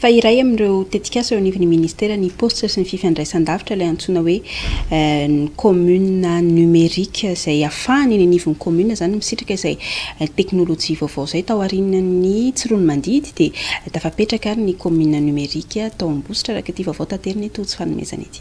Fa iray amin'ireo tetikasa eo anivon'ny Ministera ny Paositra sy ny Fifandraisandavitra ilay antsoina hoe ny Commune Numérique izay afahana eny anivon'ny Commune izany misitraka izay teknolojia vaovao izay. Tao aorianan'ny tsiroanomandidy dia tafapetraka ary ny Commune Numérique tao Ambositra araka ity vaovao taterina eto tsy fanomezana ity.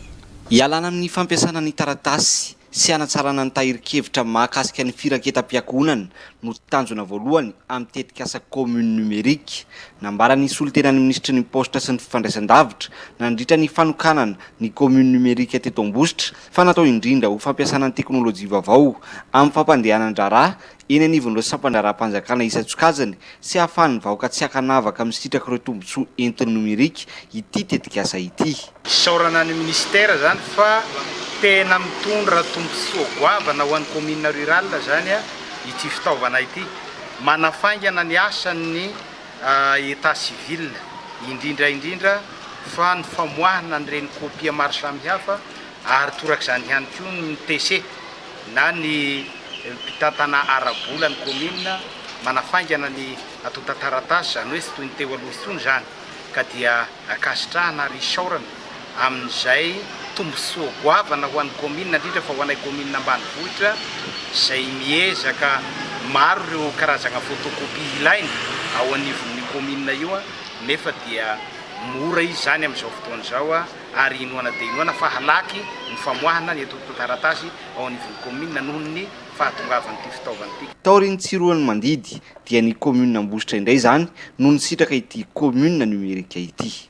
Ialana amin'ny fampiasana ny taratasy sy hanatsarana ny tahirin-kevitra mahakasika ny firaketam-piankohonana no tanjona voalohany amin'ny tetikasa Commune Numérique, nambaran'ny solontenan'ny minisitry ny Paositra sy ny Fifandraisandavitra nandritra ny fanokanana ny Commune Numérique teto Ambositra fa natao indrindra ho fampiasana ny teknolojia vaovao amin'ny fampandehanan-draharaha eny anivon'ireo sampan-draharaham-panjakana isan-tsokajiny sy hahafahan'ny vahoaka tsy ankanavaka misitraka ireo tombontsoa entin'ny nomerika ity tetikasa ity. Isaorana ny Ministère izany fa tena mitondra tombontsoa goavana ho an'ny Commune Rurale izany ity fitaovana ity. Manafaingana ny asan'ny État Civil, indrindra indrindra fa ny famoahana an'ireny copie maro samihafa ary torak'izany ihany koa ny TC. na ny mpitantana ara-bola ny kaominina manafaingana ny antontan-taratasy, izany hoe tsy toy ny teo aloha intsony izany, ka dia ankasitrahana ary isaorana amin'izay tombontsoa goavana ho an'ny kaominina, indrindra fa ho anay kaominina ambanivohitra izay miezaka maro ireo karazagna photocopie ilaina ao anivon'io kaominina io, nefa dia mora izy izany amin'izao fotoana izao. ary inoana dia inoana fa halaky ny famoahana ny antontan-taratasy ao anivon'ny kaominina noho ny fahatongavan'ity fitaovana ity. Taorian'ny tsiroan'ny mandidy dia ny kaominina Ambositra indray izany no nisitraka ity kaominina nomerika ity.